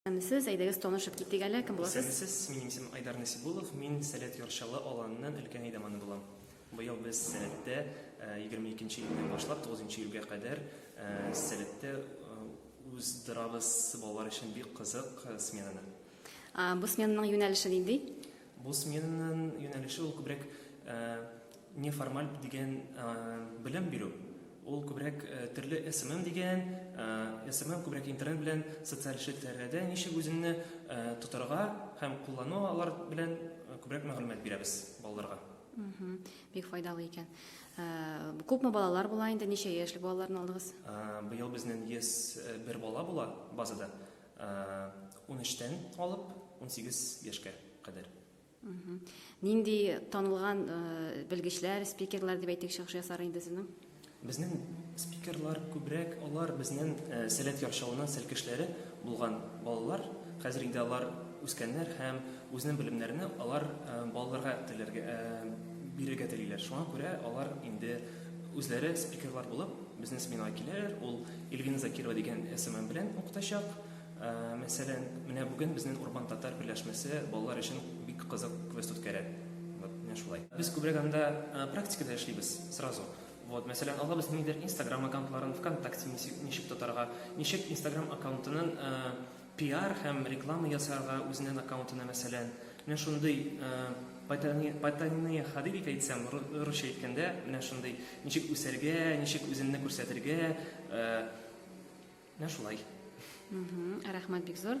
Исәнмесез, әйдәгез танышып китик әле, кем буласыз? Исәнмесез, минем исемем Айдар Насибуллов, мин Сәләт Ярчалы авылыннан өлкән әйдаманы булам. Быел без Сәләттә егерме икенче июньнән башлап тугызынчы июльгә кадәр Сәләттә уздырабыз балалар өчен бик кызык сменаны. Бу сменаның юнәлеше нинди? Бу сменаның юнәлеше ул күбрәк неформаль дигән белем бирү. Ул күбрәк төрле СММ дигән, СММ күбрәк интернет белән, социаль челтәрләрдә ничек үзеңне тотарга һәм куллану алар белән күбрәк мәгълүмат бирәбез балаларга. Бик файдалы икән. Күпме балалар була инде, ничә яшьлек балаларны алдыгыз? Быел безнең 101 бала була базада. 13-тән алып 18 яшькә кадәр. Нинди танылган белгечләр, спикерлар дип әйтик, чыгыш ясар инде сезнең? Безнең спикерлар күбрәк алар безнең э, сәләт яршавының сәлкешләре булган балалар. Хәзер инде алар үскәннәр һәм үзенең белемнәрне алар э, балаларга теләргә э, бирергә телиләр. Шуңа күрә алар инде Үзләре спикерлар булып безнең сменага киләләр. Ул Ильвина Закирова дигән СММ белән укытачак. Ә, мәсәлән, менә бүген безнең Урбан татар берләшмәсе балалар өчен бик кызык квест үткәрә. Вот, менә шулай. Без күбрәк анда ә, практикада эшлибез сразу. Вот, мәсәлән, алабыз нидер Instagram аккаунтларын, ВКонтакте ничек, ничек тотарга, ничек Instagram аккаунтының ә, Пиар һәм реклама ясарга үзенен аккаунтына мәсәлән менә шундый потайные ходы дип әйтсәм русча әйткәндә менә шундый ничек үсәргә ничек үзеңне күрсәтергә менә шулай. Рәхмәт бик зур.